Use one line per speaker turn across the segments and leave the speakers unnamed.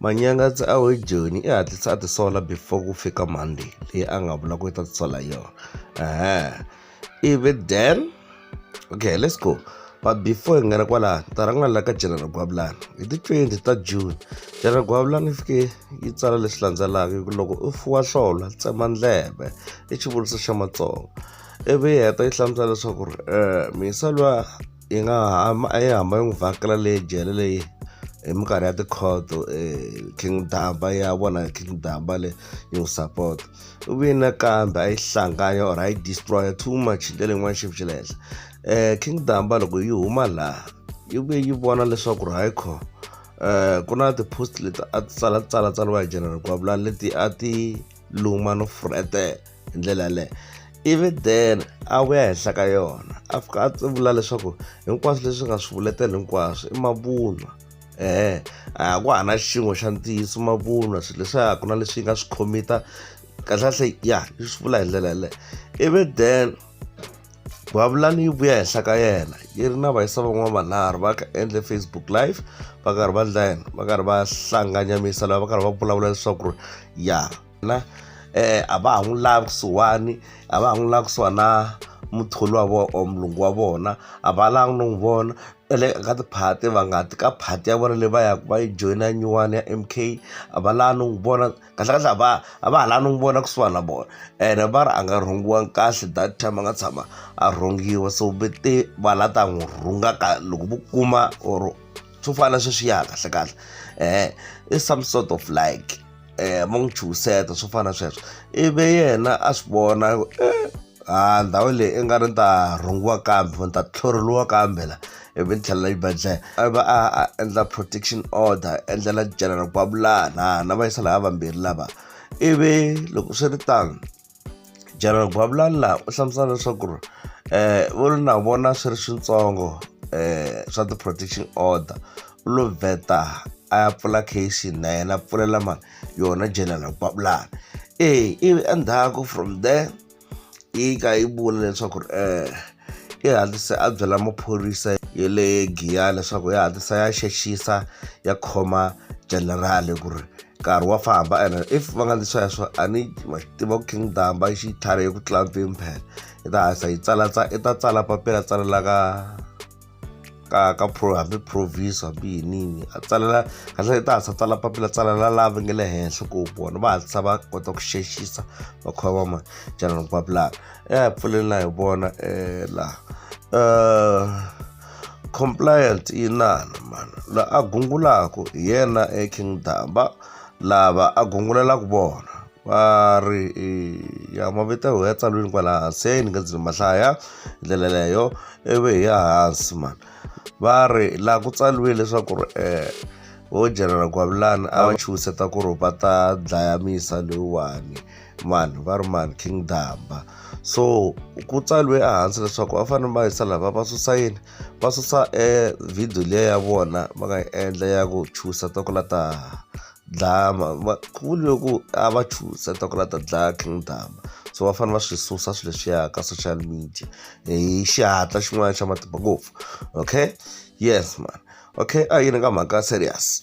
Manyangatsa a hi Joni i hatlisa a tisola before ku fika Monday leyi a nga vula ku i ta tisola hi yona ehe ivi then okay let's go but before hi nghena kwalano ta rhanga la ka general gwavulani hi ti 20 ta june general gwavulani yi fike yi tsala leswi landzelaka hi ku loko u fuwa hlolo tsema ndleve i xivuriso xa matsonga ivi yi heta yi hlamusela leswaku ri um mhisa lwa yi nga ha yi hamba yi n'wi vhakela le jele leyi hi minkarhi ya tikhoto king damba ya vona king damba le yi n'wi sapota u vini nakambe a yi hlanganya or a yi destroya too much hi ndlela yin'wana xipfu xa le henhla um king damba loko yi huma laha yi vuye yi vona leswaku ri hayi kho um ku na ti-post leti a ti tsala ti tsala tsariwa hi general gwavulani leti a ti luma no furhetela hi ndlela yaleyo ivi then a vuya henhla ka yona a fika a vula leswaku hinkwaswo leswi nga swi vuletela hinkwaswo i mavunwa ehe a ku ha na xin'we xa ntiyiso mavunwa swilo leswiya ku na leswi yi nga swi khomita kahlekahle ya yi swi vula hi ndlela yaleyo ivi then Bavulani yi vuya henhla ka yena yi ri na vayisa van'wana vanharhu va ka endle Facebook live va karhi va ndla yena va karhi va hlanganyamisa lava va karhi va vulavula leswaku ri ya. na eh a va ha n'wi lavi kusuhani a va ha n'wi lavi kusuhani na muthori wa vona or mulungu wa vona a va lavi no n'wi vona va le ka tiphati va nga ti ka phati ya vona leyi va yaka va yi joyina nyuwani ya M_K a va lavi no n'wi vona kahlekahle a va a va ha lavi no n'wi vona kusuhani na vona ene va ri a nga rhungiwanga kahle that time a nga tshama a rhungiwa so ve te va la ta n'wi rhunga ka loko vo kuma or swo fana na sweswiya kahlekahle i some sort of like. eh, mo n'wi chuhiseta swo fana na sweswo ivi yena a swi vona eh, a ndhawu leyi i nga ri ni ta rhungiwa kambe ni ta tlhoreliwa kambe la ivi ni tlhelela xibedhlele a va a a endla protection order endlela general gwavulana na va yisa lava vambirhi lava ivi loko swi ri tano General Gwabulala u hlamusela leswaku ri eh vo ri na vona swi ri switsongo eh swa ti-protection order u lo vheta a ya pfula case na yena a pfulela mani yona General Gwabulala e ivi endzhaku from there yi ka yi vula leswaku ri eh. i hatlise a byela maphorisa ya le giya leswaku ya hatlisa ya xexisa ya khoma generali ku ri nkarhi wa famba and if va nga ndzi sweswo a ni ma xi tiva ku king damba i xitlhari eku tlula mpfimphela i ta hatlisa yi tsala i ta tsala papila tsalela ka ka ka pro hambi provis hambi yinini a tsalela kahle i ta hatlisa tsala papila tsalela lava nge le henhla ku vona va hatlisa va kota ku xexisa va kha va ma general papila ya hi pfuleni na hi vona um laha um compliant yi nana mani la a gungulaka hi yena eking damba lava a gungulelaka vona Va ri ya mavito ya tsaliwini kwala hansi ni nga ndzi ma hlaya hi ndlela leyo ivi hi ya hansi mani va ri laha ku tsaliwe leswaku ri um vo general gwavulani a va chuhiseta ku ri va ta dlaya misa loyiwani mani va ri mani king damba so ku tsaliwe ehansi leswaku va fanele va yisa lava va susa yini va susa e video liya ya vona va nga yi endla ya ku chuhiseta ku la ta dlaya va ku vuriwe ku a va chuza ta ku la ta dlaya king dama so va fanele va swi susa swilo leswiya ka social media hi xihatla xin'wana xa matimba ngopfu okay yes man okay a yini ka mhaka serious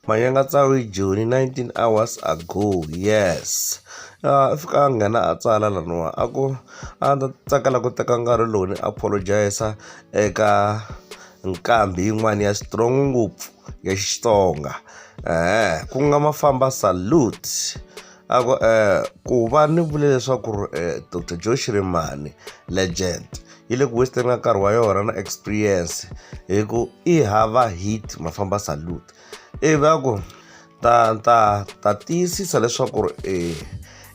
manyanga tsawi joni 19 hours ago yes a fika a nghena a tsala laniwa a ku a ndzi tsakela ku teka nkarhi lowu ni apologize eka nqambhi yin'wana ya strong ngopfu ya xitsonga eh ku nga mafamba salute a ku eh ku va ni vule leswaku eh, dr joe shirimani legend yi le ku western ka nkarhi wa yona na experience hi ku i hava hit mafamba salute ivi a ku ta ta ta tiyisisa leswaku ri e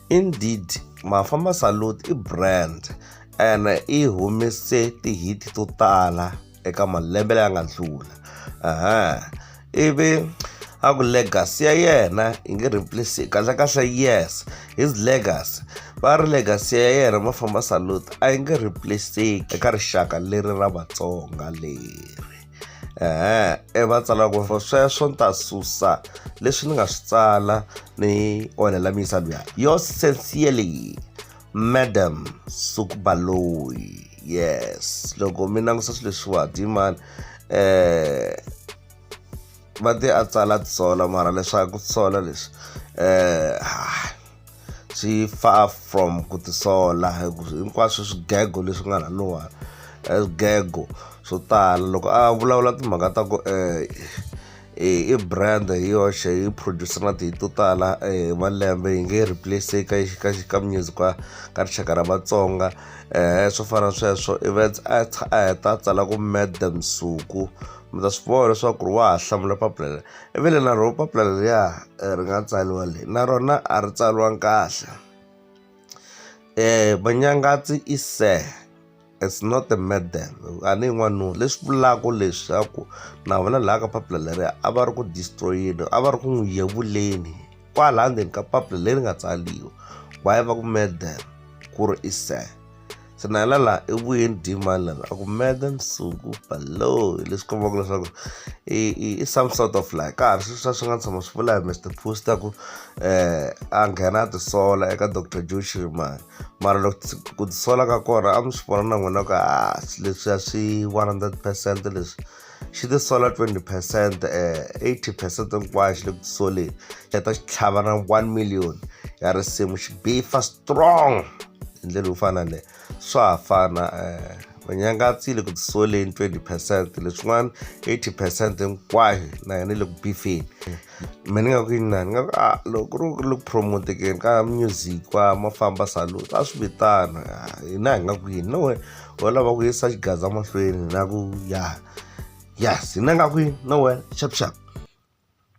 indeed mafamba salud i brand and i humese ti-hit to tala eka malembe laya nga ndlula ivi a ku legacy ya yena yi nge replace kahlekahle yes his legacy va ri legacy ya yena mafamba salute a yi nge replaceki eka rixaka leri ra vatsonga leri. ehe e va tsala ku ri sweswo ni ta susa leswi ni nga swi tsala ni onhela miyisa luya yo sincerely madam sukubaloyi yes loko mi langusa swilo leswiwa dimani um eh, va te a tsala tisola mara leswaku tisola leswi um eh, swi far from ku tisola hinkwaswo swigego leswi nga na nuwani swigego swo tala loko a vulavula timhaka ta ku um i brand hi yoxe yi producer na tihi to tala hi malembe yi nge replace ka ka ka music wa ka rixaka ra vatsonga um swo fana sweswo events a a heta a tsala ku mad msuku mi ta swi vona leswaku ri wa ha hlamula papila leri i vile na rona papila leriya eh, ri nga tsariwa le na rona a ri tsariwanga kahle um manyangatsi i sir it's not a madam a ni yin'wanuna leswi vulaka leswaku na vona laha ka papila leriya a va ri ku destroyeni a va ri ku n'wi yevuleni kwalaha ndzeni ka papila leri nga tsariwa why va ku madam ku ri i sir se na yena laha i vuyeni demand lava a ku meda nsuku balo hi leswi kombaka leswaku i i i some sort of like ka ha ri sweswiwa swi nga tshama swi vula hi mr post a ku um a nghena a tisola eka doctor joe shirimani mara loko ku tisola ka kona a mi swi vona na n'wina ku a ah, leswiya swi one hundred percent leswi xi tisola 20 percent um eh, 80 percent hinkwayo xi le ku tisoleni xi heta xi tlhava na 1 million ya risimu xi bifa strong hi ndlela yo fana leyo swa ha fana um eh, vanyangatsile ku tisoleni 20 percent leswin'wana 80 percent hinkwayo na yona yi le ku bifeni mehe ni nga ku inani ni nga ku a loko ku ri ku le ku promotekeni ka music wa ma famba salute a swi vitana hina hi nga ku yini no we wo lava ku yisa xigaza mahlweni na ku ya ya hina hi nga ku yini no we xap xap.